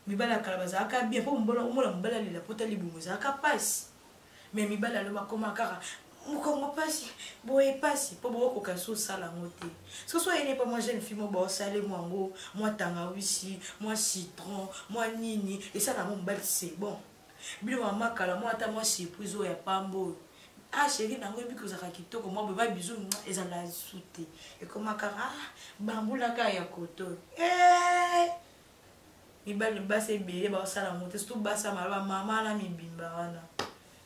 mibali ya kala bazalaka bien mpo mobala omona mobali alela mpo ta libumu ezalaka mpasi me mibali alo bakoma kaka mokongo mpasi boye mpasi mpo bokokoka so osala yango te soki soyeni epa mwa jeune fille mo baosale mwa yango mwa tangawisi mwa citron mwa nini esala yango mobali se bon bino mama kala mwa ata mwa surprise oyo ya pamba oyo ah sheri nango ebi kozalaka kitoko mwa boye babizu ezala su te ekomaka ah, bambulaka ya koto eh! mibali basi ebele baosala yango te surtout basi ya maloba mama na mibimba wana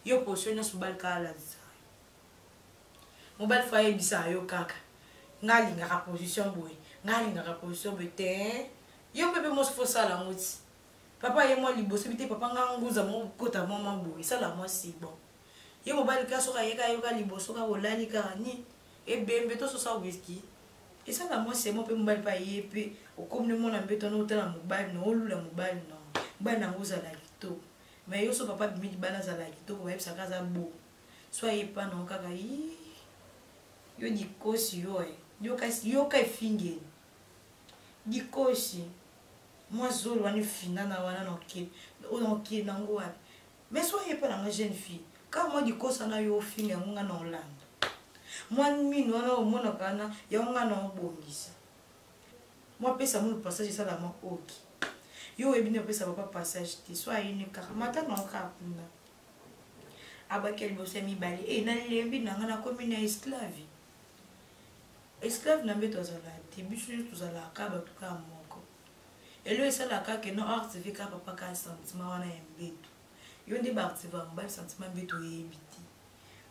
yo posio nyonso mobali kaka alalisa mobali fo ayebisa yo kaka ngai alingaka position boye ngai alingaka position boye te yo mpe mpe mosi fo osala yango ti papa ye mwa liboso bi te papa ngai nguza mokota mwa mwa boye esala mwa si bon ye mobali ka soki ayeka yoka liboso kaka olali kaka nini ebembe tososa wiski eza na mwasi yango mpe mobali mpe aye mpe okomi ne mwana mbeto no otala mobali no olula mobali no mobali nango ozala kitoko mai yo so papa bimi libala azala kitoko bayebisaka aza bo so aye mpa nango kaka yi yo dikosi yo e yoka efingeli dikosi mwa zolo wana efinana wana na okende nango wapi mais soki epa na nga jeune fille kaka mwa dikosa na yo ofinga yango nga na olanda mwa mino wana omonaka wana yango nga na obongisa mwa pesa mulu passage esala mwa oki yo oyebi nde opesa papa passage te so ayini kaka mata na okaka kuna abaki ya liboso ya mibale e eh, nalembi na nga nakomi na esclave esclave na mbeto azalaka te biso nyo tozalaka bato kaka moko elo esala ka ke no active ka papa ka sentiment wana ya mbetu yo nde baactiva mobali sentiment mbetu oyebi te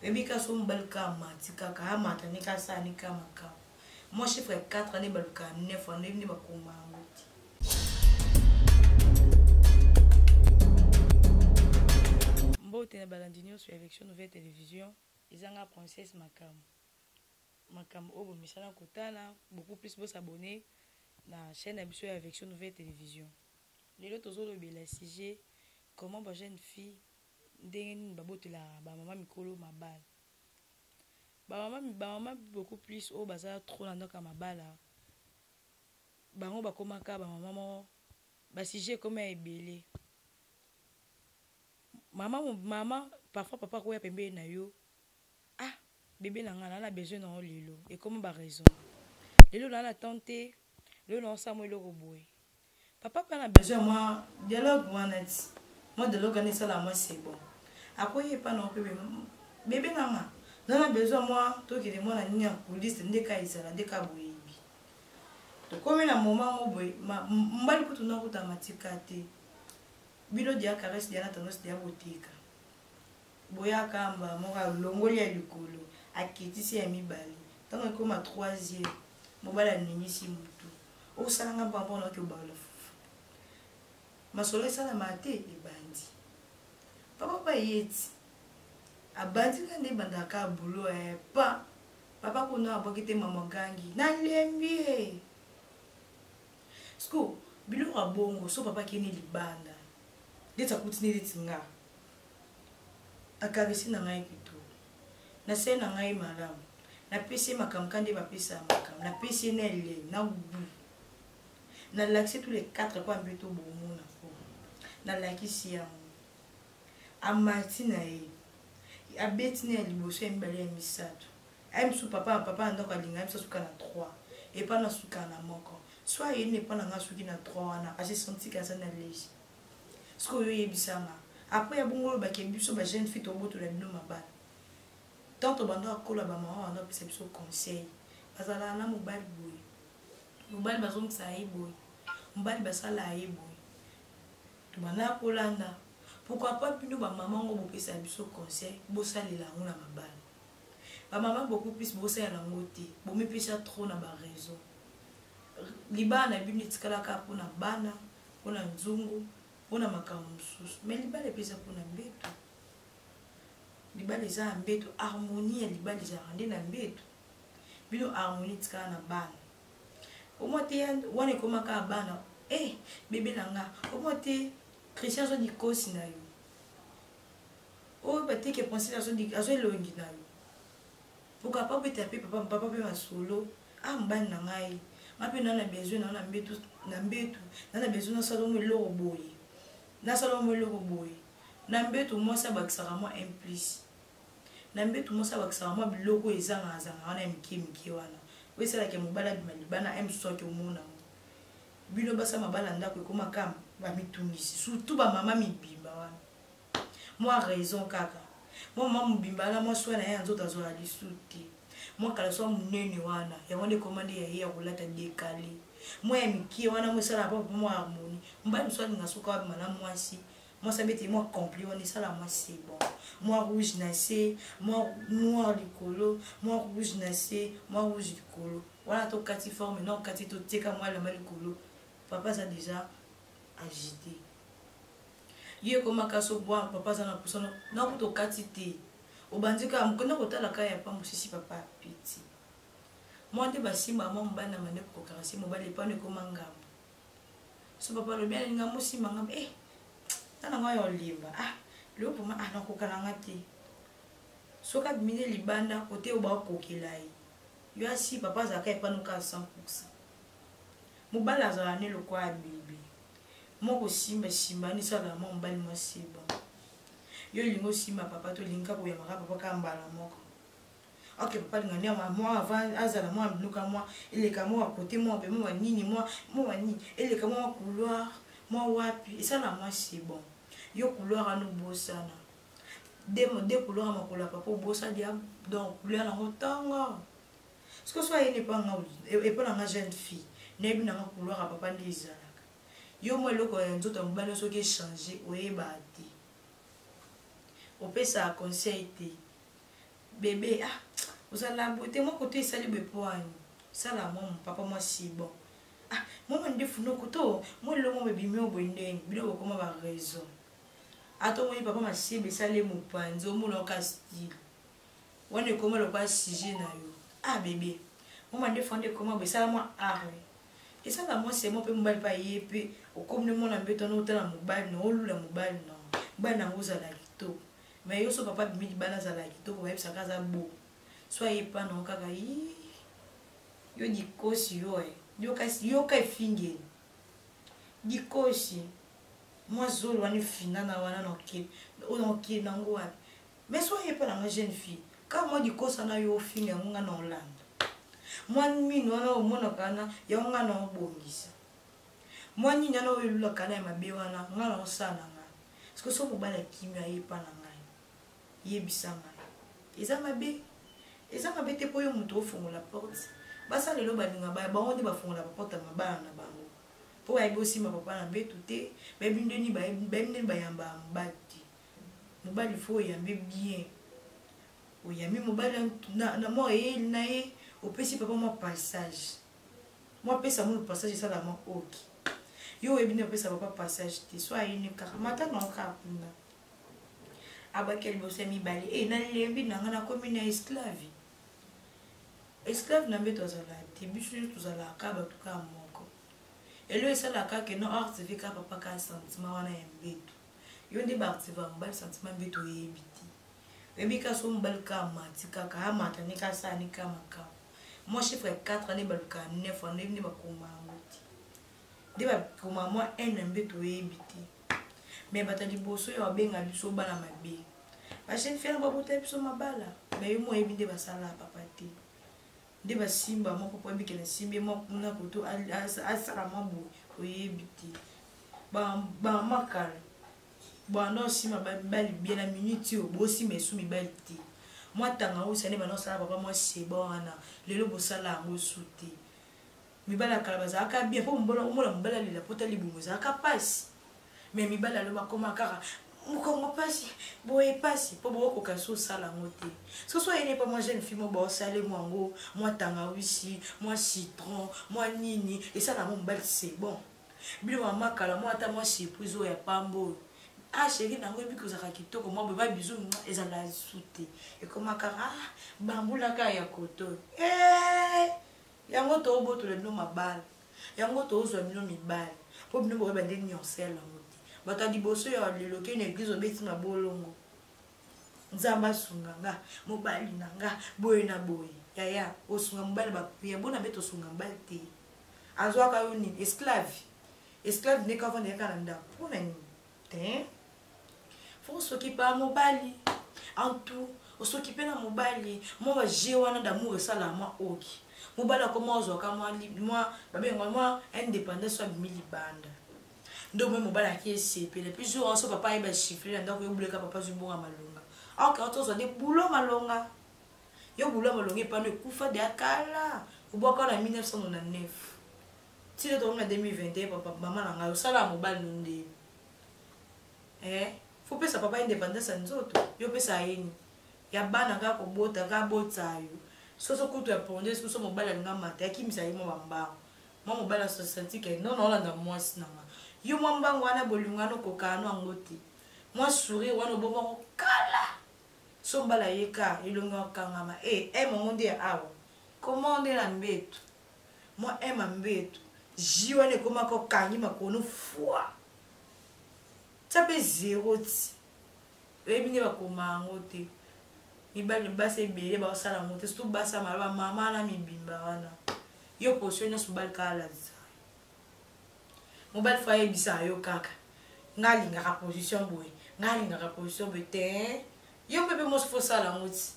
oyebi ka so mobali ka amati kaka amata nde ka asala nde ka makambo mwa chiffre ya 4 ane baluka 9 wana oyebi nde bakoma yango mbote na balandi nyonso ya élection nouvelle télévision ezanga princesse makambo makambo oyo bomesana kotala beaucoup plus bo s'abonner na chaîne ya biso ya Avection Nouvelle Television lelo tozolobela sujet comment ba jeune fille ndenge nini babotelaka bamama mikolo mabala bamama bamama beaucoup plus oyo baza trop na ndako ya mabala bango bakomaka bamama moko basujet ekoma ya ebele mama mama parfois papa akoya pembeni na yo ah bebe na nga na na besoin na yo lelo ekomi ba raison lelo na na temps te lelo na osala mwa eloko boye papa mpe na besoin ya mwa dialogue mwa neti mwa dialogue ana esala mwa sebo akoye epa na ope bebe na nga na na besoin mwa tokende mwa na nini ya polise nde ka ezala nde ka boyebi tokomi na moma ngo boye mbali kutu nakuta matika te bino dia caresse dia na tendance dia botika Boya kamba moko alongoli ya likolo akitisi ya mibale ntango ekoma troisième mobali aningisi motu osala nga mpamba mpona oki obaola fufu masolo esalama te ebandi papa bayeti abandi nga nde ebandaka kaka bulo eh, pa papa kuna abwaki te mama gangi nalembi ye siko biloko ya bongo so papa akeni libanda ndeti akuti nde neti nga akaresi na ngai kitoko nasali na ngai malamu napesi ye makambo ka nde bapesa ya makambo napesi ye na elei na gubu nalakisi tous les quatre mpo ambi tobomona po nalakisi yango amati na ye abeti na ya liboso ya mibale ya misato aye mosusu papa papa na ndako alinga ye mosusu asuka na trois epa nasuka na moko so ayei na epa na ngai asuki na trois wana asesantika aza na legi sikoyo yo yebisa nga apres ya bongo oloba ke biso ba jeune fille tobotola bino mabala tant tobanda kokola bamama banda kopesa biso conseil bazalaka na mobali boye mobali bazongisa ye boye mobali basala ye boye tobanda kolanda pourkoi pas bino bamama yango bopesa biso conseil bosalela yango na mabala bamama beaucoup plus bosalela yango te bomipesa trop na baraison libala na bino etikalaka mpona bana, bana mpo na nzungu mpo na makambo mosusu me libala epeza mpo na mbeto libala eza ya mbeto harmonie ya libala ezalaka nde na mbeto bino harmonie tikala na bana omwa te wana ekomaka ya bana e eh, bebe na nga omwa te christian azwa dikosi na yo oyo oh, bateke principe azwa elongi na yo Pourquoi pas peut-être pe papa papa pe masolo ah mobali na ngai nga mpe naa na besoin naa na mbetu na mbetu naa na besoin nasala omo eloko boye nasala omo eloko boye na mbetu mwasi abakisaka mwa un plus na mbetu mwasi abakisaka mwa biloko oyo ezangazanga wana ya mike mike wana oyo esalaka mobali abima libana ya mosusu ake omona bino basa mabala ndako ekoma kama bamitungisi surtout bamama mibimba wana mwa raison kaka mwa mwa mobimba na mwa swa na ye ya nzoto azwaka lisu te mwa kala swa monene wana yango nde ekoma nde ya ye ya kolata dekale mwa ya mikie wana mwa esalaka mpo mpo mwa harmonie mobali mosusu alinga soki abima na mwasi mwasi abeteli mwa compli wana esala mwa sebon mwa rouge na se mwa noir likolo mwa rouge na se mwa rouge likolo wana tokati forme na okati totieka mwa elamba likolo papa aza deja agite yo ekoma kasi obwa papa aza na posa na kuta okati te obandi kaka mokenda kotala kaka ya pa mosisi papa piti mwa nde basimbaka mwa mobali na mande kokokaka se mobali epano ekoma ngambo so papa alobi alinga mosimba ngambo e eh, tana ngai ya olimba ah leo poma ah nakokana nga te soki abimi nde libanda kote oyo bakokela ye yo asi papa azalaka epano kaka 100 mobali azala ne lokola abili Moi kosimba simba ni sala moi mobali moi c'est bon. Yo lingo osimba papa to linga koyamaka papa ka mbala moko. Ok papa linga ni ama moi avant azala moi biluka moi eleka moi côté moi be moi nini moi moi nini eleka moi couloir moi wapi esala moi c'est bon. Yo couloir anu bosana. De de couloir makola papa bosana dia donc couloir na motanga. siko so ayeni epa nga epa na nga jeune fille nayebi na nga couloir ya papa nde ezalaka yo mwa eloko ya nzoto ya mobali soki echange oyebaa te opesaka conseil te bebe ah ozala bote mwa koto esali bepoani sala mwa papa mwa si bon ah mwa mandefu noko to mwa elongo bebimi oyo boye ndenge bino bokoma ba raison ata omoni papa masiebe esali ye mopanzi omona oka stile Wana ekoma lokola sujet na yo. Ah bebe. Mama nde fanda ekoma bo esala mwa arme. Esala mwa semo mpe mobali mpe aye mpe okomi nde mwana mbeto wana otala mobali na olula mobali na mobali na yango ozala kitoko. Mais yo so papa abimi libala azala kitoko bayebisaka aza bo. So aye epa na yo kaka yii. Yo dikosi yo eh. Yo kasi yo ka efingeli. Dikosi. Mwa zolo wana efinana wana na okeli. Oyo na okeli na yango wapi. mais soki ayepa na nga jeune fille kaka mwa dikosa na yo ofinga yango nga na olanda mwa mino wana omonaka wana yango nga na obongisa mwa nini wana oyo elulaka na ya mabe wana nga na osala na nga soki soki mobali akimi ayepa na ngai yebisa ngai eza mabe eza mabe te mpo yo moto ofongola porte basala lelo balinga baya bango nde bafongola baporte ya mabala na bango mpo bayebi osimba papa na mbetu te bayebi ndeni bayamba mobali te mobali fo oyambe bien oyambi mobali na mwa eyeli na ye opesi papa mwa passage mwa pesa mulu passage esala mwa oki yo oyebi nde opesa papa passage te so ayini kaka matanga yo kaka kuna abaki liboso ya mibale e eh, nalembi na ngai nakomi na esclave esclave na mbeto azalaka te biso nyonso tozalaka bato kaka moko elo esalaka ke no artv kaka papa kaka sentiment wana ya mbeto yo nde baartiste va mobali sentiment mbe toyebi te oyebi kaka so mobali kaka mati kaka amata nde kaka sala nde kaka makambo mwa chiffre 4 nde balukaka 9 wana oyebi nde bakoma yango te nde bakoma mwa ene mbe toyebi te me bato ya liboso ya babenga biso bana mabe bajeune fere babotela biso mabala me yo moyebi nde basala papa te nde basimba moko po abikela esimbi mwa kuna koto asala mwa boye oyebi te bamakala banda osima mibali bie na minute oyo bosima esu mibali te mwatanga osa nde banda osala papa mwa seba wana lelo bosala yango su te mibali ya kala bazalaka bien mpo mobala omona mobali alela mpo ta libumu ezalaka mpasi me mibali alo bakoma kaka mokongo mpasi boye mpasi mpo bokokoka so osala yango te soso ayene mpo mwa jeune fille mo baosale mwango mwa tangawisi mwa citron mwa nini esala yango mobali se bon bino mama kala mwa ata mwa surprise oyo ya pamba oyo ah sheri nango ebi kozalaka kitoko mwa boye babizu ezala su te ekomaka ah bambulaka ya koto eh! yango toobotola bino mabala yango tozwa bino mibali mpo bino boyeba nde nionse ya lango te bato ya liboso ya lelo kei na eglize obeti mabolongo nzambe asunga nga mobali na nga boye na boye yaya osunga mobali bapriya bona mpe tosunga mobali te azwaka yo nini esclave esclave nde kavanda yaka na ndako mpo na nini te fo soki pa mobali en tout osoki mpe na mobali mwa baje wana damour esalaka mwa oki mobali akoma ozwaka mwa babenga mwa indépendance abimi libanda nde omoi mobali aki esepele puis jour yanso papa ayeba chiffre na ndako yobuleka papa azwi bonga malonga ok oto ozwa nde bulo malonga yo bulo malonga epano ekufa deya kala obwaka na 1999 tika tokomi na 2021 papa mama na ngai osala ya mobali no nde eh, fo pesa papa independance ya nzoto yo pesa yeni ya bana kaka kobota kaka botisa yo soso kutu ya ponde soso mobali alinga mata yakimisa ye mwa bambango mwa mobali asosantike no naolanda mwasi na nga yo mwa mbango wana bolingo wana okokano yango te mwa sourire wana obomako kala so mbala ye ka elongi okangama e eh, e eh, mongo nde ya awa komande na mbetu mwa ema mbetu ji wana ekomaka okangi makonu fwa tya mpe zero ti oyebi nde bakoma yango te mibali basi ebele baosala yango te surtout basi ya maloba mama na mibimba wana yo posio nyonso mobali kaka alalisa mobali fo ayebisa yo kaka nga alingaka position boye nga alingaka position boye te yo mpe mpe mosi fosala yango ti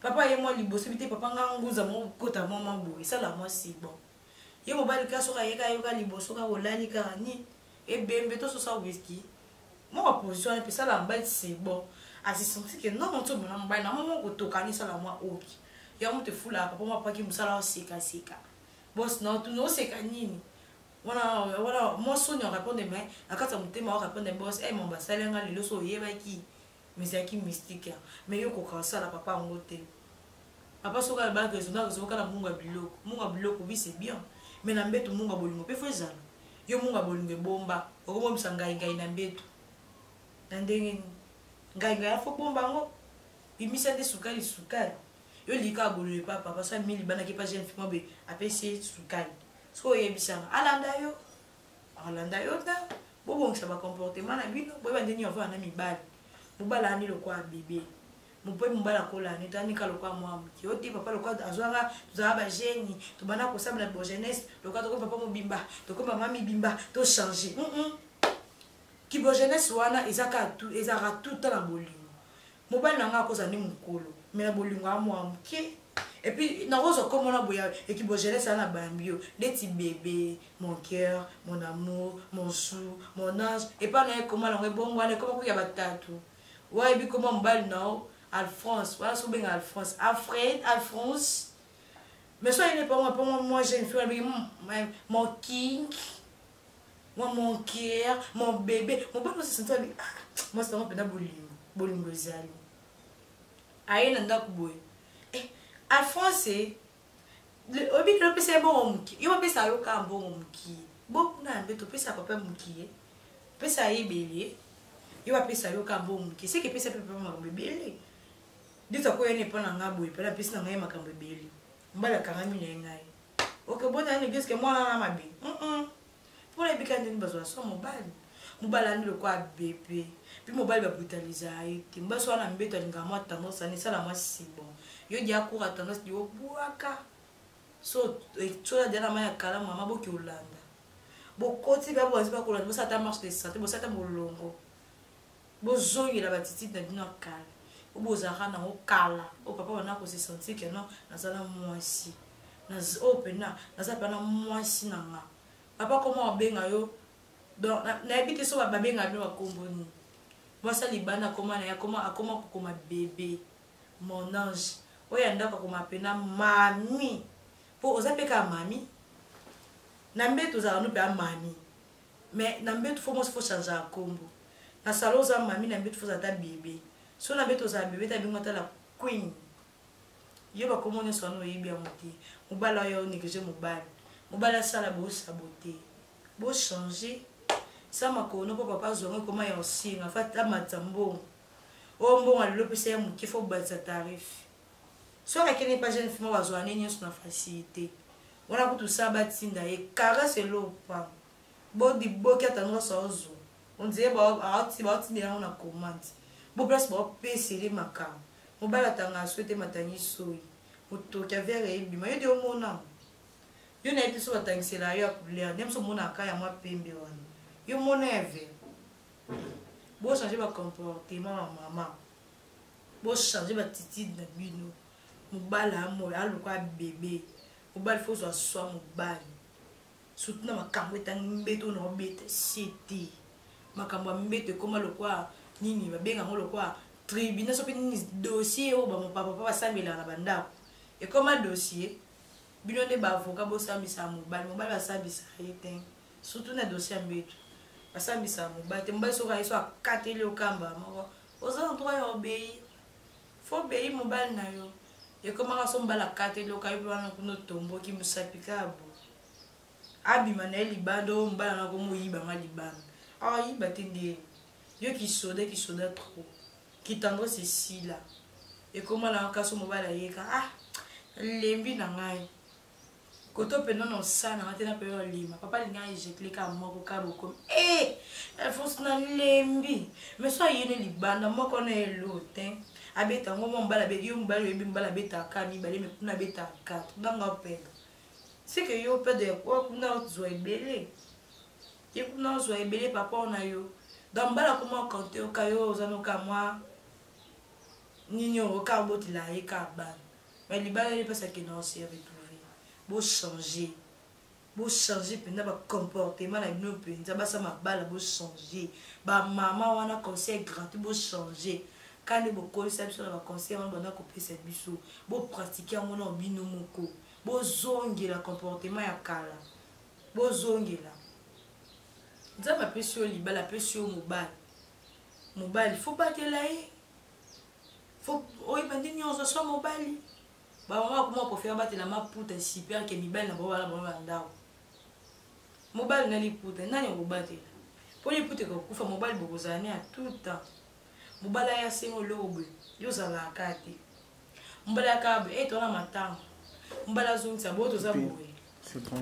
papa ye mwa liboso bite papa nga nguza moko kota mwa mwa boye sala mwa si bon ye mobali ka soki ayeka yoka liboso ka olali kaka nini ebembe tososa wiski mwa baposition wana mpe sala mobali si bon asisensi ke non nso mona mobali na mwa mwa kotokani sala mwa oki ya moto efulaka papa mwa paki mosala osekaseka bos na otuna oseka nini wana wana mwa soni orepondre mai na kati ya motema orepondre bos e eh, mamba asali yanga lelo so oyebaki mais ezalaki mystique mais yo koka osala papa yango te papa soki alobaki ezonaka ezokoka na munga biloko munga biloko oui c'est bien mais na mbetu munga bolingo mpe fo ezala yo munga bolingo ebomba okobombisa ngai ngai na mbetu na ndenge nini ngai ngai afo bomba yango bimisa nde sukali sukali yo lika abolo epa papa so amilibanaki epa jeune fille mobe apesi ye sukali soki oyebisanga alanda yo akolanda yo ta bobongisa bacomportement na bino boyeba nde nini avanda na mibali mobali ayandi lokola bebe mope mobali akolanda yo tanika lokola mwa moke yo te papa lokola azwanga tozala bageni tobanda kosabela bogenese lokola tokomi papa mobimba tokomi mama mibimba tochange kibogenese wana ezaka ezalaka tuta na bolingo mobali na ngai akozala nde mokolo me na bolingo ya mwa moke epuis nakozwa nkombo na boya ekibogelese ya na bambi yo ndeti bebe mon cœur mon amour mon sou mon ange epai na ye koma nango ebongo wana ekoma koya batatu wayebi koma mobali na yo alfrance wana so obenga alfrance afred alfrance mais so ayene mpongo mpongo mwa jeune fille wana benge mon king mwa monkier mobebe mobali mosusu nto abi ah, mwasi nango mpenza bolingo bolingo ezali aye na ndako boye eh, alphonse oyebi kilo opesa ye mbongo mokie yo bapesa yo kaka mbongo mokie bokuna ya mbe topesa papa mokie pesa ye ebele yo bapesa yo kaka mbongo mokie seke epesa mpe papa makambo ebele nde takoya na epa na ngai boye mpena apesi na ngai makambo ebele mbala akangami na ye ngai oke bota nani eglise ke mwana wana mabe mpona ebika ndeni bazwa so mobali mobali ani lokola bebe mpe mobali babrutaliza ye te mobali so wana mbeto alingaka mwa tendance ani esala mwa sibon yo dia kura tendance dia obwaka so etsola dia na mai ya kala mama boki olanda bokoti bia boazi bakolanda bosala ata marche de santé bosala ata molongo bozongela batitide na bino ya kala oyo bozalaka nango kala oyo papa banda kose sentir ke non naza na mwasi oyo mpena naza mpena mwasi na nga papa koma obenga yo donc nayebi te so babenga bino bakombo nini mwasi alibanda akoma na ye akoma kokoma bebe mon ange oyo ya ndako akoma mpena mami mpo oza mpe kaka mami na mbe tozalaka no mpe amami mais na mbetu fo mwasi fo changea kombo na salo oza mami na mbetu foza ata bebe so na mbetu ozala bebe ta bingo ata la queen yo bakombo nyonso wana oyebi yango te mobali oyo onéglige mobali mobali asala bosabote bochange sa makono mpo papa azwa yango ekoma ya osinga fa amatisa mbongo oyo mbongo alelo mpesa ya moke fo obatisa tarife soki akende pa jeune fima bazwa nde nyonso na facilité wana kutu sa batinda ye caresse elopa bodi boki ata nyonso aozwa ondire baotinda yango na commande bo place baopesele makambo mobali atanga aswete matangi soyi motoki ya vere ebima yo de omona yo nayebi biso batangisela yo ya couleur nde biso omonaka ya mwa pembe wana yo mona ya vere bochange bacomportement ya mama bochange batitide na bino mobali amoyo aluka bebe mobali fo ozwa swa mobali surtout na makambo etangi mbeto na obeta sie te makambo ya mbeto ekoma lokola nini babenga yango lokola tribunal soki nini dossier oyo bamopapapa basambelaka na bandako ekoma dossier bino nde baavoka bosambisa mobali mobali basambisa ye te surtout na dossier ya mbeto basambisa mobali te mobali soki ayeso akateli okamba moko oza na droit ya obeyi fo obeyi mobali na yo ekomaka so mobali akata eloka yo mpe wana kuna otomboki mosapi kabo abima na ye libanda oyo mobali na komo oyibanga libanda awa ah, yiba te nde yo kisoda kisoda trop kitandrese esila ekoma na kasi mobali ayeka ah lembi na ngai koto mpenza na osana nga te na mpenza olima papa alinga ejekile kaka moko ka bokomi e eh! alfonse nalembi mais so ayene libanda moko na elo te abeta yango mwa mobali abeti yo mobali oyebi mobali abetaka mibale me kuna abetaka katre ndanga opeda seke yo opeda kuna ozwa ebele ye kuna ozwa ebele papa na yo donc mobali akoma okante oka yo oza noka mwa nini oyo oka obotela ye ka bana mais libala ye mpasi akenda o se retrouve bochange bochange mpenza bacomportement na bino mpenza basa mabala bochange bamama wana conseil gratuit bochange kande bokolisa biso na baconseil wana banda kopesa biso bopratike yango na bino moko bozongela comportement ya kala bozongela nzambe apesi yo libala apesi yo mobali mobali fo batela ye Faut oyeba nde nyonso swa mobali. Ba mama bakoma kofela batela maputa super ke mibali na bango bala bango na ndako. Mobali na liputa nani akobatela? Mpo liputa ekokufa mobali bokozala ne ya tout temps. Mobali aya senga oloko boye yo ozalaka kaka te. Mobali akaba boye ete eh, wana matanga. Mobali azongisa boye toza boye. C'est bon.